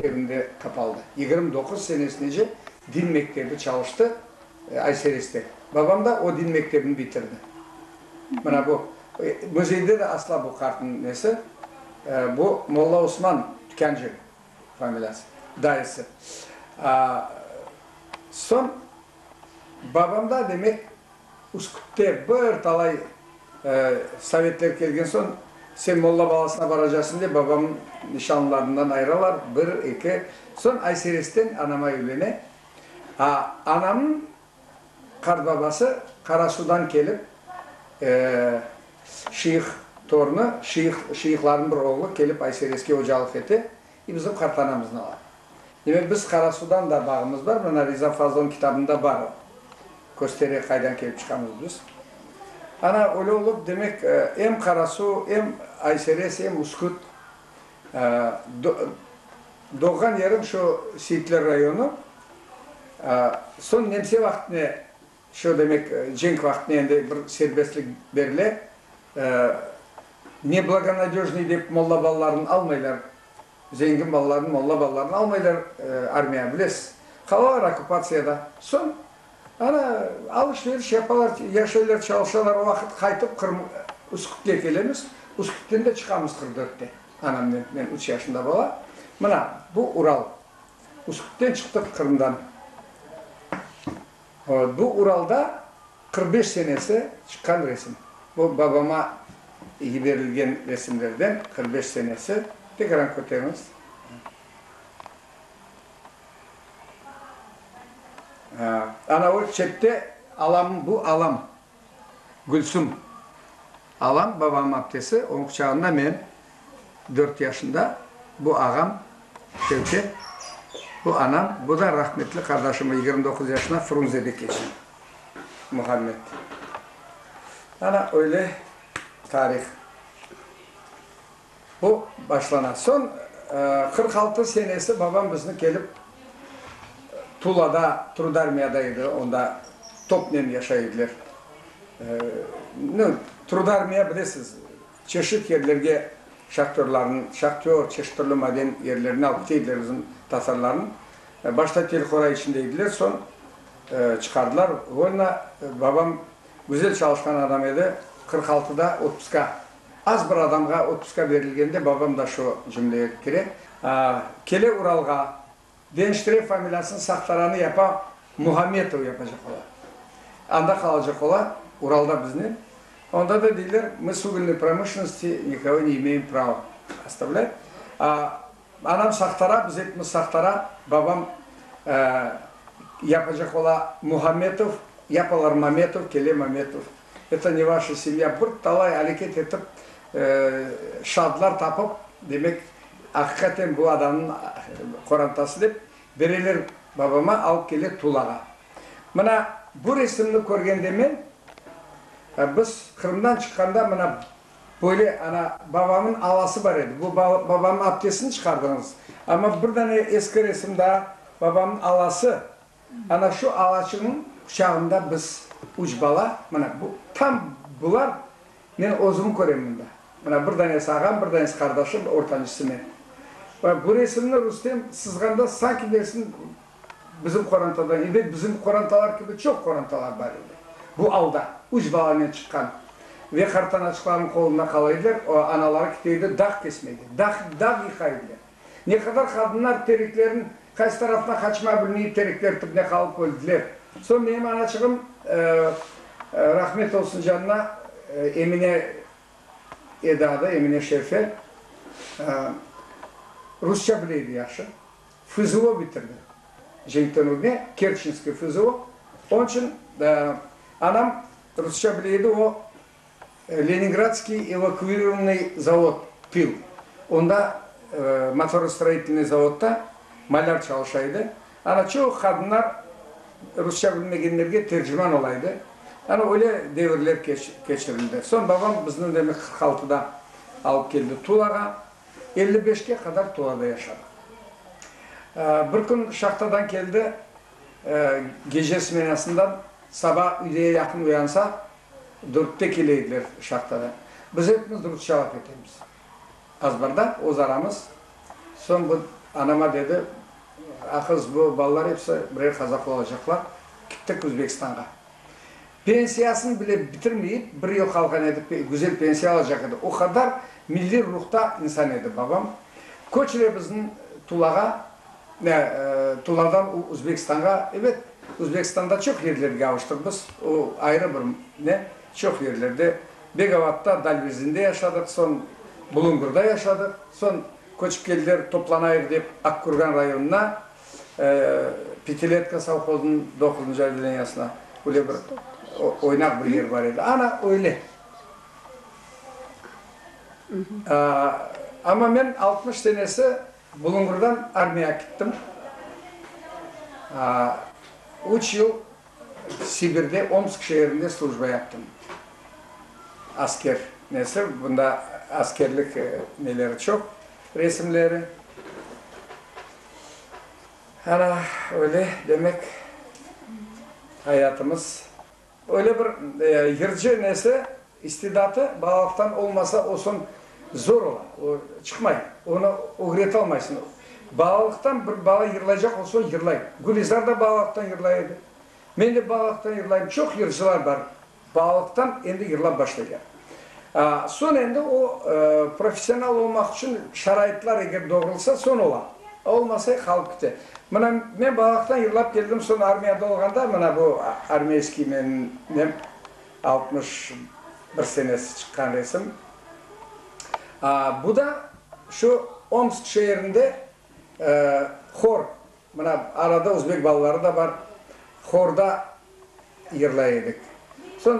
Evinde qapaldı. Yigirmi doquz senesinece din mektebi çalıştı Aysereste. Babam da o din mektebini bitirdi. Mına bu. Müzeyde de asla bu qartnıñ nesi, bu Molla Osman Tükânci familiyası, dayısı. Soñ babamda demek. Üsküpte bir talay sovetler kelgen soñ, sen molla balasına baracasıñ dep, babamnıñ nişanlılarından ayıralar, bir, eki. Soñ Ayseresten anama evlene. A anamnıñ qartbabası Qarasudan kelip, şıyıq torunı, şıyıq, şıyıqlarnıñ bir oğlu kelip Aysereske ocalıq ete. E, bizim qartanamız ne var? Demek, biz Qarasudan da bağımız bar, mına Riza Fazlınıñ kitabında bar o. Köstere qaydan kelip çıqamız biz. Ana, öyle olıp, demek, em Qarasu, em Ayseres, em Üsküt, do, doğğan yerim şu Seyitler rayonı, soñ nemse vaqtine, Şu demek, cenk vaqtına endi bir serbestlik berile. Neblagonadejnıy dep molla balalarını almaylar. Zengin balalarını, molla balalarını almaylar armiya, bilesiz. Qalalar okkupatsiyada. Soñ ana alış-veriş yapalar, yaşaylar, çalışalar. O vaqıt qaytıp Qırım, Üskütke kelemiz. Üskütken de çıqamız qırq dörtte anamnen. Men üç yaşında bala. Mına, bu Ural. Üskütten çıqtıq, Qırımdan. Bu Uralda qırq beş senesi çıqqan resim. Bu babama yiberilgen resimlerden qırq beş senesi. Tekrar köteriñiz. Ana o çette alam, bu alam. Gülsüm. Alam babam aptesi, oñ quçağında men, dört yaşında, bu ağam Şevket, bu anam, bu da rahmetli qardaşımı, yigirmi doquz yaşına Frunzede keçen Muhammed. Ana, öyle tarih. Bu başlana. Soñ qırq altı senesi babam bizni kelip Tulada, Trudarmiyada edi, onda topnen yaşay ediler. Nı, Trudarmiya, bilesiz, çeşit yerlerge şahtörlarnı, şahtör, çeşit türlü maden yerlerine alıp kite ediler bizim tatarlarnı. Başta telqora içinde ediler, soñ çıqardılar volna. Babam güzel çalışqan adam edi, qırq altıda otpuska. Az bir adamğa otpuska berilgende babam da şu cümleye kire, kele Uralğa, deniştire familiyasını, sahtaranı yapa, Muhametov yapacaq ola. Anda qalacaq ola, Uralda biznen. Onda da deyler, mı sugülnıy promışlennosti nikogo ne imeyim prava ostavlât. Anam sahtara, biz epimiz sahtara, babam yapacaq ola Muhametov, yapalar Mametov, kele Mametov, eto ne vaşa semya, bir talay aleket etip, şaadlar tapıp, demek, aqiqaten bu adamnıñ qorantası dep, bereler babama, alıp kele Tulağa. Mına bu resimni körgende men, biz Qırımdan çıqqanda, mına Böyle, ana, babamın alası bar edi. Bu babamın apkesini çıqardıñız. Amma bir dane eski resim daa, babamın alası. Ana, şu alaçıñıñ quçağında biz, üç bala, mına, bu, tam bular, men özümi körem bunda. Mına, bir danesi ağam, bir danesi qardaşım, ortancısı men. Bu resimni Rustem sızğanda, sanki, dersiñ, Bizim qorantada edi, bizim qorantalar kibi çoq qorantalar bar edi. Bu alda, üç balanen çıqqan ve qartanaçıqlarnıñ qolunda qala ediler, anaları kite edi, dağ kesme edi, dağ, dağ yıqa ediler. Ne qadar qadınlar tereklerniñ qaysı tarafına qaçma bilmeyip terekler tibine qalıp öldiler. Soñ menim anaçığım, rahmet olsun canına, Emine edi adı, Emine Şerfe, rusça bile edi yahşı. FZO bitirdi. Cenktönüvde Kerçinskiy FZO. Onıñ içün anam rusça bile edi, o, Leningradskiy evakuirovanıy zavod, pil, onda, motorostroitelnıy zavodda malâr çalışa edi. Ana, çoq qadınlar rusça bilmegenlerge terciman ola edi. Ana, öyle devirler keçirildi. Soñ babam bizni, demek, qırq altıda alıp keldi Tulağa. Elli beşke qadar Tulada yaşadı. Bir kün şahtadan keldi, gece smenasından, saba üyde yaqın uyansa, dörtte kele ediler şahtadan. Biz epimiz rusça laf etemiz azbarda, öz aramız. Soñ bu anama dedi, A qız, bu balalar episi birer qazaq olacaqlar, kittik Özbekistanğa. Pensiyasını bile bitirmeyip, bir yoqalğan edi, güzel pensiya alacaq edi. O qadar milliy ruhta insan edi babam. Köçüre bizni Tulağa, Tuladan Uzbekistanğa, ebet, Uzbekistanda çoq yerlerge avuştıq biz, o ayrı bir ne, çoq yerlerde, Begavatda, Dalvezinde yaşadıq, soñ Bulungurda yaşadıq, soñ köçip keldiler, toplanayıq dep, Akkürgan rayonına, Pitiletka sovhozınıñ doquzıncı odeleniyasında böyle bir oynaq bir yer bar edi. Ana öyle. Amma men altmış senesi Bulungurdan armiyağa kittim. Üç yıl Sibirde, Omsk şeerinde slujba yaptım. Asker nesi, bunda askerlik neleri çoq, resimleri. Ana, öyle, demek, ayatımız. Öyle bir yırcı nesi, istidatı balalıqtan olmasa, o soñ zor ola, o çıqmay, onı ögretalmaysıñ. Balalıqtan bir bala yırlaycaq olsa, yırlay. Gülizar da balalıqtan yırlay edi, men de balalıqtan yırlayım, çoq yırcılar bar. Balıqtan endi yırlap başlaylar. Soñ endi o, professional olmaq içün şaraitlar eger doğrulsa, soñ ola. Olmasa, qalıp kite. Mına, men Balıqtan yırlap keldim, soñ armiyada olğanda, mına bu armiyskiy menim nem, altmış bir senesi çıqqan resim. Bu da şu Omsk şeerinde hor. Mına, arada özbek balaları da bar, horda yırlay edik. Soñ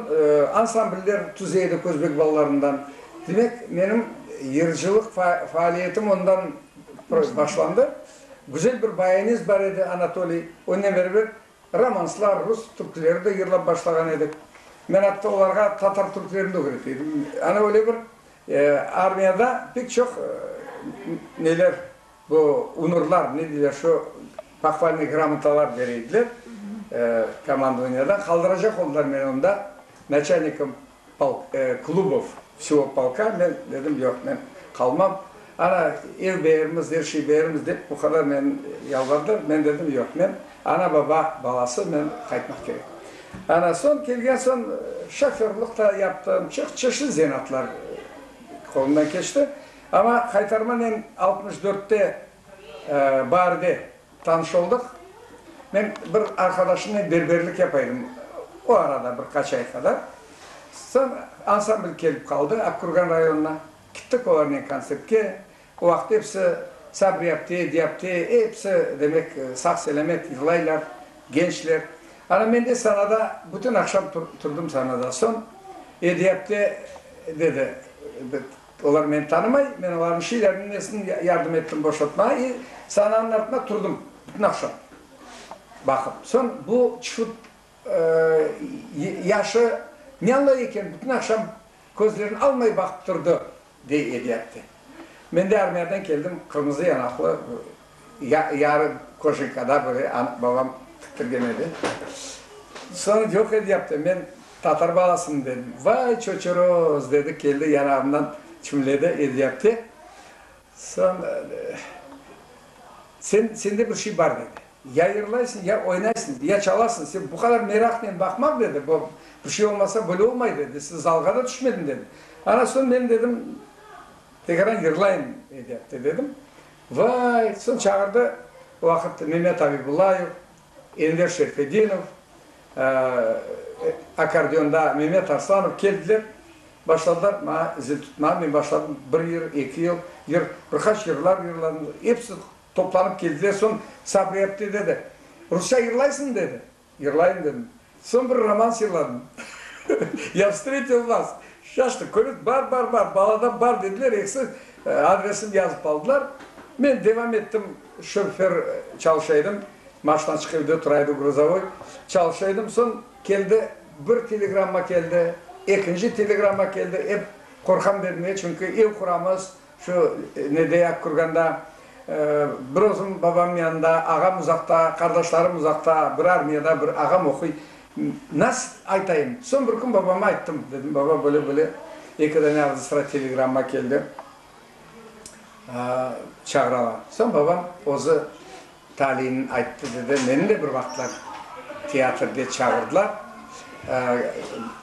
ansambller tüze edik özbek balalarından. Demek, menim yırcılıq faaliyetim ondan başlandı. Güzel bir bayanist bar edi, Anatoliy, onen beraber romanslar, rus türküleri de yırlap başlağan edik. Men atta olarğa tatar türkülerini de ögret edim. Ana öyle bir armiyada pek çoq neler, Bu unurlar, ne deyler, şu pahvalnıy gramotalar bere ediler komandovaniyadan. Qaldıracaq oldılar meni onda, naçalnikim polk, Klubov, vsyo polka. Men dedim, yoq, men qalmam. Ana, ev beermiz, er şey beermiz dep, bu qadar meni yalvardılar. Men dedim, yoq, men ana, baba balası, men qaytmaq kerek. Ana, soñ kelgen soñ, şoförlıq ta yaptım, çoq çeşit zenatlar qolumdan keçti. Amma qaytarmanen altmış dörtte barde tanış oldıq. Men bir arqadaşımnen berberlik yapa edim o arada, bir qaç ay qadar. Soñ ansambl kelip qaldı Aqkurgan rayonına. Kittik olarnen kontsertke. O vaqıt episi sabriyapte, ediyapte, episi, demek, sağ-selamet yırlaylar, gençler. Ana men de sahnada bütün aqşam turdım sahnada. Soñ ediyapte dedi, Olar meni tanımay, men olarnıñ şeyleriniñ nesini yardım ettim boşatmağa i sananıñ artına turdım bütün aqşam baqıp. Soñ bu çıfıt yaşı ne añlay eken, bütün aqşam közlerini almay baqıp turdı, dey Eliatte. Men de armiyadan keldim, qırmızı yanaqlı Yarım koşinkada böyle babam tiktirgen edi. Soñ yoq edi yaptı. Men tatar balasımın dedim. Vay çoçoroz! dedi, keldi yanağımdan çimledi edi yaptı. Soñ sen, sende bir şey bar dedi. Ya yırlaysıñ, ya oynaysıñ, ya çalasıñ. Sen bu qadar meraqnen baqmaq dedi, bu bir şey olmasa böyle olmay dedi. Siz zalğa da tüşmediñ dedi. Ana soñ men dedim, tekraren yırlayım edi yaptı dedim. Vay! Soñ çağırdı, o vaqıt Memet Abibullayev, Enver Şerfedinov, akkordeonda Memet Arslanov keldiler, başladılar maña zil tutmağa. Men başladım, bir yır, eki yıl, yır, bir qaç yırlar yırladım. Episi toplanıp keldiler, soñ Sabriyat dedi, rusça yırlaysıñmı? dedi. Yırlayım dedim. Soñ bir romans yırladım. Ya vstretil vas, şaştı, körüt, bar, bar, bar, baladan bar dediler, eksi adresim yazıp aldılar. Men devam ettim, şöfer çalışa edim, maştan çıqıp evde tura edi, gruzovoy, çalışa edim. Soñ keldi, bir telegramma keldi, ekinci telegramma keldi, ep qorqam dedim, çünki ev quramız, Şu nedey aq kurganda, bir özüm babam yanında, ağam uzaqta, qardaşlarım uzaqta, bir armiyada, bir ağam oquy. Nasıl aytayım? Soñ bir kün babama ayttım. Dedim, baba, böyle-böyle eki dane ağzı sıra telegramma keldi, çağıralar. Soñ babam özü taliyini ayttı, dedi, meni de bir vaqıtlar teatrge çağırdılar.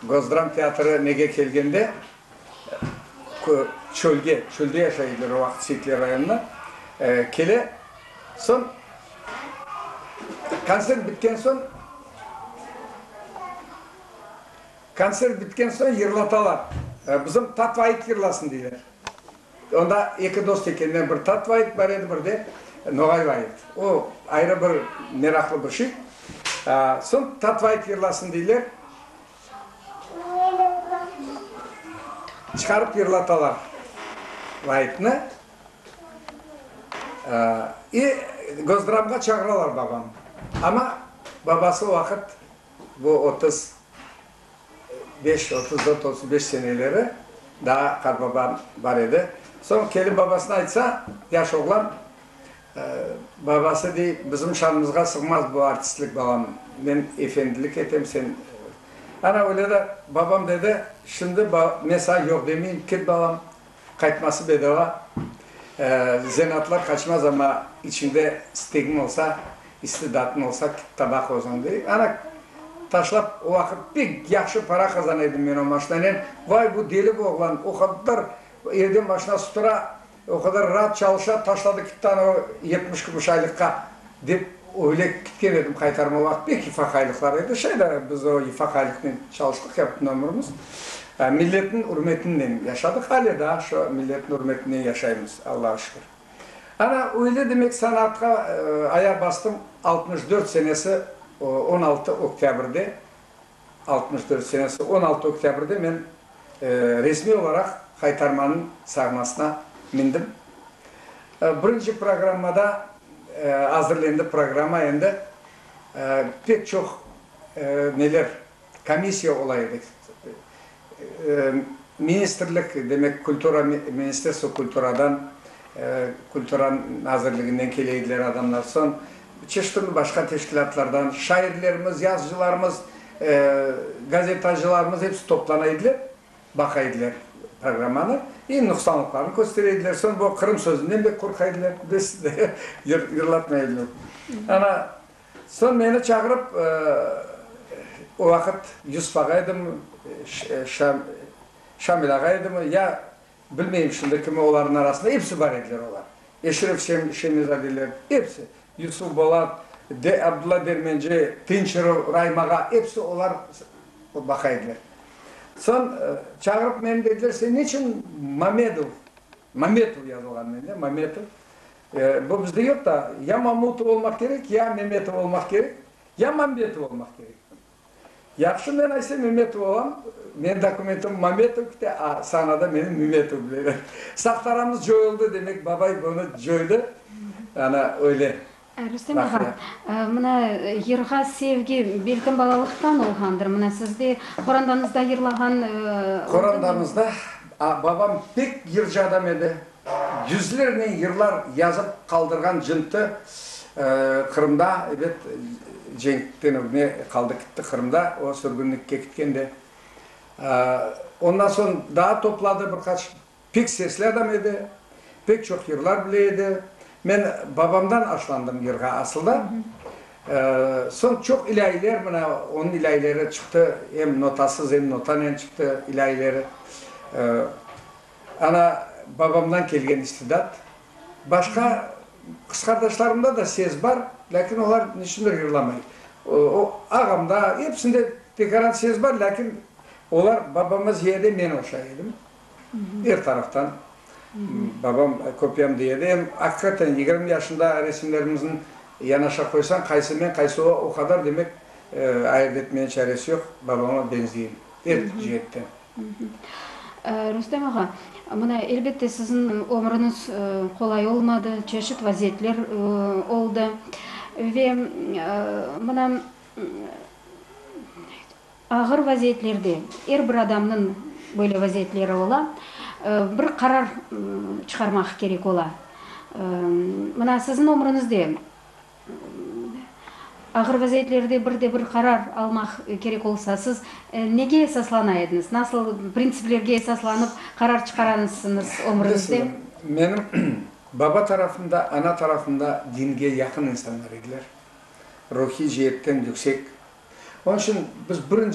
Gozdram teatrı nege kelgende, Çölge, çölde yaşay edi bir vaqıt Seyitler rayonına. Kele, soñ kontsert bitken soñ, kontsert bitken soñ yırlatalar. Bizim Tatvayık yırlasın deyler. Onda eki dost ekenler, bir Tatvayık bar edi, bir de Noğay bar edi. O ayrı bir meraqlı bir şey. Soñ Tatvayık yırlasın deyler. Çıqarıp yırlatalar Laipni. İ, Gozdramğa çağıralar babanı. Amma babası o vaqıt, bu otuz beş, otuz dört, otuz beş seneleri, daa qarbaban bar edi. Soñ kelip babasına aytsa, yaş oğlan, Babası dey, bizim şanımızğa sığmaz bu artistlik, balam, men efendilik etem, sen, ana öyle de, babam dedi, şimdi men saña yoq demeyim, ket, balam, qaytması bedava, zenatlar qaçmaz, amma içiñde istegiñ olsa, istidatıñ olsa, tabaq özüñ, dey, ana, taşlap, o vaqıt pek yahşı para qazana edim men o maşinanen, vay, bu deli bu oğlan, o qadar evden maşina sutura, O qadar raat çalışa taşladı kittani o yetmiş kümüş aylıqqa, dep öyle kitken edim qaytarma vaqıt pek ifaq aylıqları edi, şeyda biz o ifaq aylıqnen çalıştıq ya bütün ömürimiz. Milletniñ ürmetinen yaşadıq, ale daa şu milletniñ ürmetinen yaşaymız, Allağa şükür. Ana öyle demek sanaatqa ayaq bastım, altmış dört senesi on altı oktâbrde Altmış dört senesi on altı oktâbrde men resmiy olaraq Haytarmanıñ sahnasına mindim. Birinci programmada azırlendi programma endi. Pek çoq neler, komissiya ola edi. Ministrlik, demek, kultura Ministerstvo kulturadan, Kultura nazirliginden kele ediler adamlar, soñ çeşitli başqa teşkilâtlardan şairlerimiz, yazıcılarımız, gazetacılarımız hepsi toplana ediler, baqa ediler programmanı i nuqsanlıqlarını köstere ediler, soñ bu Qırım sözünden bek qorqa ediler, bilesiz, yırlatmay ediler. Ana, Soñ meni çağırıp, o vaqıt Yusuf ağa edimi, Şamil ağa edimi, ya, bilmeyim şimdi kimi, olarnıñ arasında episi bar ediler olar, Eşref Şemizadeler, episi, Yusuf Bolat, Abdulla Dermenci, Tınçırov Raim ağa, episi olar baqa ediler. Soñ çağırıp meni, dediler, sen ne içün Mamedov, Mametov yazılğan mende, Mametov, Bu bizde yoq da, ya Mamutov olmaq kerek, ya Memetov olmaq kerek, ya Mambetov olmaq kerek. Yahşı, men ayse Memetov olam, menim dokumentim Mametov kite, a sahnada meni Mümetov bileler. Sahtaramız coyuldı, demek, babay bunı coydı, ana öyle. Rustem ağa, mına yırğa sevgi belkim balalıqtan olğandır, mına sizde qorandanızda yırlağan. Qorandanızda, babam pek yırcı adam edi. Yüzlernen yırlar yazıp qaldırğan cıntı Qırımda, ebet, cenkten ögne qaldı kitti Qırımda, o sürgünlikke kitken de. Ondan soñ daa topladı bir qaç, pek sesli adam edi, pek çoq yırlar bile edi. Men babamdan aşlandım yırğa asılda. Soñ çoq ilâyiler, mına onıñ ilâyileri çıqtı, em notasız, em notanen çıqtı ilâyileri. Ana, babamdan kelgen istidat. Başqa qızqardaşlarımda da ses bar, lâkin olar neçündir yırlamay. O, ağamda, episinde pekaran ses bar, lâkin olar babama ziyade men oşay edim. Er taraftan. Babam köpyam dey edi. Em, aqiqaten, yigirmi yaşında resimlerimizni yanaşa qoysañ, qaysı men, qaysı o, o qadar, demek, ayırt etmene çaresi yoq, babama beñzeyim, er ceetten. Rustem ağa, mına, elbette, siziñ ömrüñiz qolay olmadı, çeşit vaziyetler oldı. Ve mına, ağır vaziyetlerde, er bir adamnıñ böyle vaziyetleri ola, bir qarar çıqarmaq kerek ola. Mına, siziñ ömrüñizde Ağır vaziyetlerde bir de bir qarar almaq kerek olsa, siz nege esaslana ediñiz? Nasıl printsiplerge esaslanıp qarar çıqaranısıñız ömrüñizde? Menim baba tarafım da, ana tarafım da dinge yaqın insanlar ediler, ruhiy ceetten yüksek. Onıñ içün biz birinci.